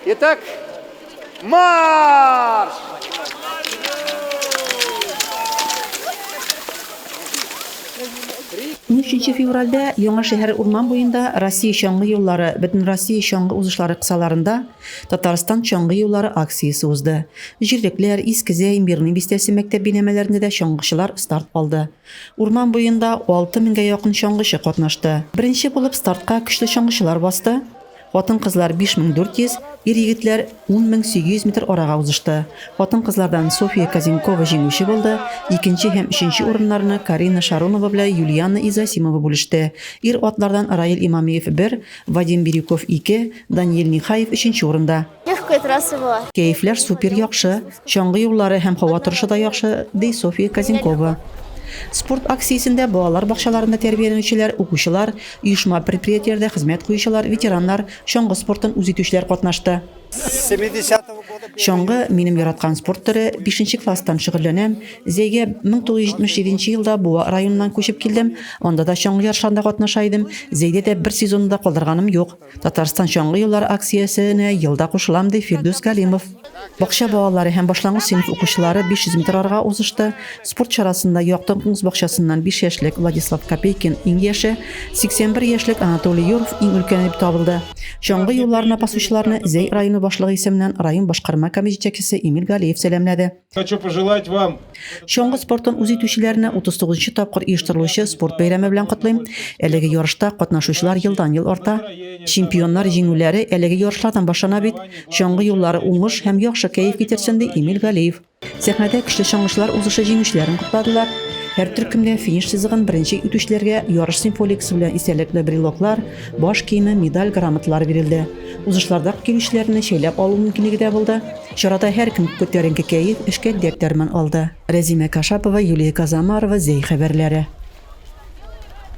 Итак, марш! Унөченче февральдә Яңа шәһәр урман буенда Россия чаңгы юллары Бөтенроссия чаңгы узышлары кысаларында Татарстан чаңгы юллары акциясе узды. Җирлекләр, Искезәй, Мирный бистәсе мәктәп бинәмәләрендә дә чаңгычылар старт алды. Урман буенда алты меңгә якын чаңгычы катнашты. Беренче булып стартка көчле чаңгычылар басты. Хатын-кызлар 5400, ир-егетләр 10800 метр арага узышты. Хатын-кызлардан Софья Козенкова җиңүче булды, икенче һәм өченче урыннарны Карина Шаронова белән Юлианна Изасимова бүлеште. Ир-атлардан Раил Имамиев бер, Вадим Бирюков ике, Даниил Нехаев өченче урында. Легкая трасса была. Кәефләр супер яхшы, чаңгы юллары һәм һава торышы да яхшы, ди Софья Казенкова. Спорт акциясендә балалар бакчаларында тәрбияләнүчеләр, укучылар, оешма-предприятиеләрдә хезмәт куючылар, ветераннар, чаңгы спортын үз итүчеләр катнашты. Чаңгы, минем яраткан спорт төре, бишенче класстан шөгыльләнәм. Зәйгә 1977 елда Буа районыннан күчеп килдем, анда да чаңгы ярышларында катнаша идем, Зәйдә дә бер сезонны да калдырганым юк. Татарстан чаңгы юллары акциясенә елда кушылам, ди Фирдүс Галимов. Бакча балалары һәм башлангыч сыйныф укучылары 500 метр арга узышты. Спорт чарасында Яктың куңс бакчасыннан 5 яшьлек Владислав Копейкин иң яше, 81 яшьлек Анатолий Юров иң өлкәне дип табылды. Чаңгы юлларына басучыларны Зәй районы башлыгы исеменнән район башкарма комитет җитәкчесе Эмиль Галиев сәламләде. Хочу пожелать вам Чаңгы спортын үз итүчеләрне 39 нчы тапкыр оештырылучы спорт бәйрәме белән котлыйм. Әлеге ярышта катнашучылар елдан-ел арта. Чемпионнар җиңүләре әлеге ярышлардан башлана бит. Чаңгы юллары уңыш һәм яхшы кәеф китерсен, ди Эмиль Галиев. Сәхнәдә көчле чаңгычылар узышы җиңүчеләрен кутладылар. Һәр төркемдә финиш сызыгын беренче итүчеләргә ярыш символикасы белән истәлекле брелоклар, баш киеме, медаль, грамоталар бирелде. Узышларда килүчеләрне шәйләп алу мөмкинлеге дә булды. Чарада һәркем күтәренке кәеф, эшкә дәрт дәрман алды. Рәзимә Кашапова, Юлия Казамарова, Зәй хәбәрләре.